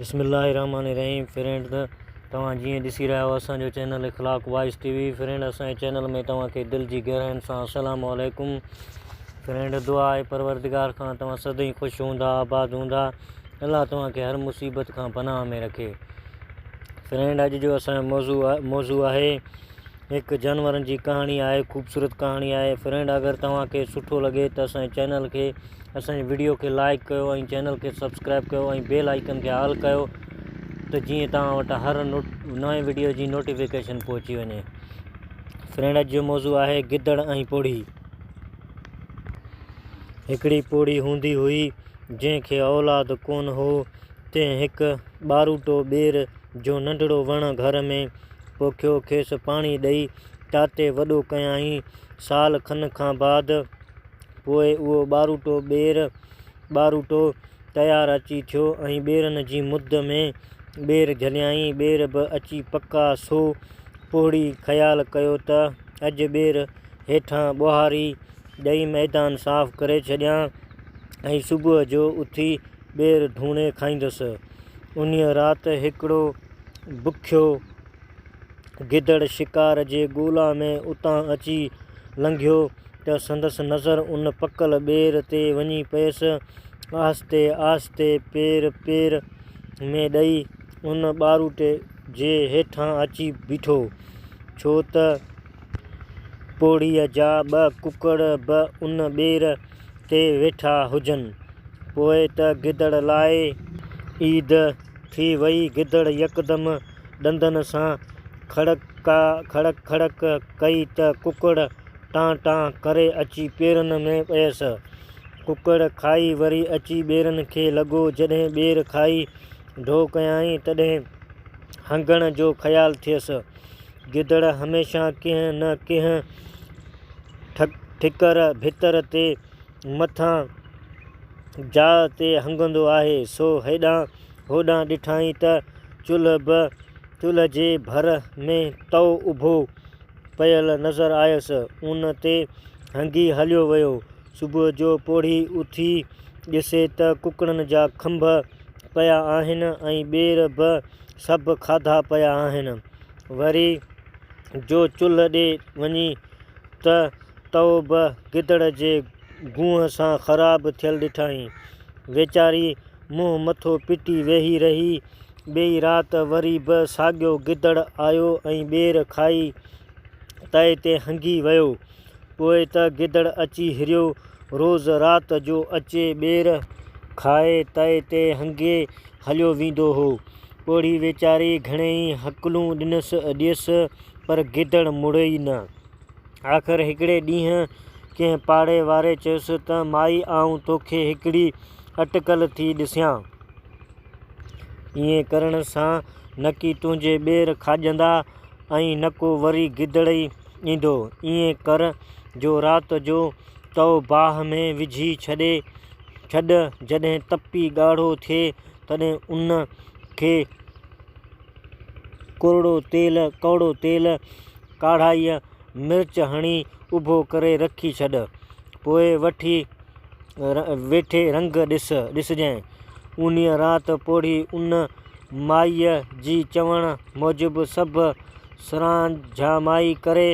بسم الله الرحمٰن الرحيم فرينڊ توهان جيئن ڏسي رهيا آهيو اسان جو channel Akhlaq voice T V friend اسان جي چينل ۾ توهان کي دل جي گهراين سان السلام عليڪم فرينڊ دعا آهي پروردگار کان توهان سدائين خوش هوندا آباد هوندا الله توهان کي هر مصيبت کان پناهه ۾ رکي فرينڊ اڄ جو اسان جو موضوع موضوع آهي هڪ جانورن جي ڪهاڻي آهي خوبصورت ڪهاڻي آهي فرينڊ اگر توهان کي سٺو لڳي ته اسان جي چينل کي اسان جي وڊيو کي لائڪ ڪيو ۽ چينل کي سبسڪرائب ڪيو ۽ بيل آئيڪن کي آل ڪيو ته جيئن توهان وٽ هر نوٽ نئين وڊيو جي نوٽيفڪيشن پهچي وڃي فرينڊ اڄ جو موضوع آهي گدڙ ۽ پوڙهي هڪڙي پوڙهي هوندي هئي جنهن کي اولاد ڪون هو تنهن هڪ ٻاروٽو ٻير جو ننڍڙو وڻ گهر ۾ پوکيو، کيس پاڻي ڏئي ٽاٽي وڏو ڪيائين. سال کن کان بعد پوء اهو ٻاروٽو ٻير، ٻاروٽو، تيار اچي ٿيو ۽ ٻيرن جي مد ۾ ٻير جهليائين. ٻير به اچي پڪا، سو پوڙهي خيال ڪيو ته اڄ ٻير هيٺان ٻوهاري ڏئي ميدان صاف ڪري ڇڏيان ۽ صبح جو اٿي ٻير ڌوڻي کائيندس. انهيء رات هڪڙو بکيو گدڙ شڪار جي ڳولا ۾ اتان اچي لنگهيو ته سندس نظر ان پڪل ٻير تي وڃي پيس. آهستي آهستي پير پير ۾ ڏئي ان ٻاروٽي جي هيٺان اچي بيٺو ڇو ته پوڙهيء جا ٻه ڪڪڙ به ان ٻير تي ويٺا هجن. پوء ته گدڙ لاء عيد ٿي وئي. گدڙ يڪدم ڏندن سان کڙڪا کڙڪ کڙڪ ڪئي ته ڪڪڙ ٽان ٽان ڪري اچي پيرن ۾ پيس. ڪڪڙ کائي وري اچي ٻيرن کي لڳو. جڏهن ٻير کائي ڍو ڪيائين تڏهن هنگڻ جو خيال ٿيس. گدڙ هميشه ڪنهن نه ڪنهن ٺڪر ڀتر تي مٿان جاء تي هنگندو آهي، سو هيڏانهن هوڏانهن ڏٺائين ته چلهه به چلهه جي ڀر ۾ تئو اڀو پيل نظر آيس، ان تي هنگي هليو ويو. صبح جو پوڙهي اٿي ڏسي ته ڪڪڙن جا کنڀ پيا آهن ۽ ٻير به سڀ کاڌا پيا آهن. وري جو چلهه ڏي وڃي ته تئو به گدڙ جي گونهه سان خراب ٿيل ڏٺائين. ويچاري منهن مٿو پٽي ويهي رهي. ٻئي رات وري به ساڳيو گدڙ آيو ۽ ٻير کائي تئي تي هنگي ويو. پوء ته گدڙ اچي هريو. روز رات جو اچي ٻير کائي تئي تي هنگي هليو ويندو هو. پوڙهي ويچاري گهڻيئي هڪلون ڏنس ڏيس پر گدڙ مڙيئي نه. آخر هڪڙي ڏينهن ڪنهن پاڙي واري چيس ته مائي آئون توکي هڪڙي اٽڪل ٿي ڏسيان. ائين ڪرڻ سان نڪي تنهنجي ٻير کاڄندا. ۽ نه ڪو وري گدڙئي ايندو. ائين ڪر جو رات جو تئو باهه ۾ وجهي ڇڏي ڇڏ، جڏهن تپي ڳاڙهو ٿئي تڏهن ان کي ڪورڙو تيل ڪاڙهائي مرچ هڻي اڀو ڪري رکي ڇڏ. پوء وٺي ويٺي رنگ ڏسجانء. انهيء رات پوڙهي ان مائيء جي چوڻ موجب سڀ سرانجهامائي ڪري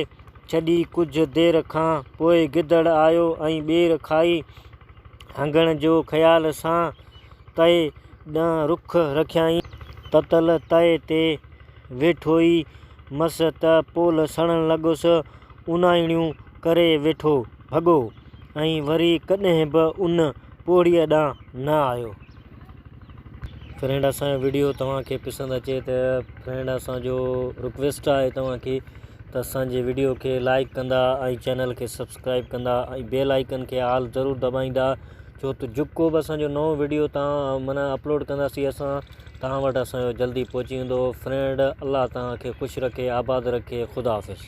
ڇڏي، ڪجهه دير کان پوء گدڙ آيو ۽ ٻير کائي هنگڻ جو خيال سان تئي ڏانهن رخ رکيائين. تتل تئي تي ويٺوئي مس ته پول سڙڻ لڳس، اونايڻيون ڪري ويٺو ڀڳو ۽ وري ڪڏهن به ان پوڙهيء ڏانهن نه آيو. فرينڊ اسان جو ويڊيو توهان کي پسند اچي ته فرينڊ اسان جو رڪويسٽ آهي توهان کي ته اسان جي ويڊيو کي لائڪ ڪندا ۽ چينل کي سبسڪرائب ڪندا ۽ بيل آئيڪن کي آل ضرور دٻائيندا ڇو ته جڪو به اسان جو نئون ويڊيو تان معنی اپلوڊ ڪنداسي اسان تان وٽ اسان جو جلدي پهچي ويندو فرينڊ الله توهان کي خوش رکي آباد رکي خدا حافظ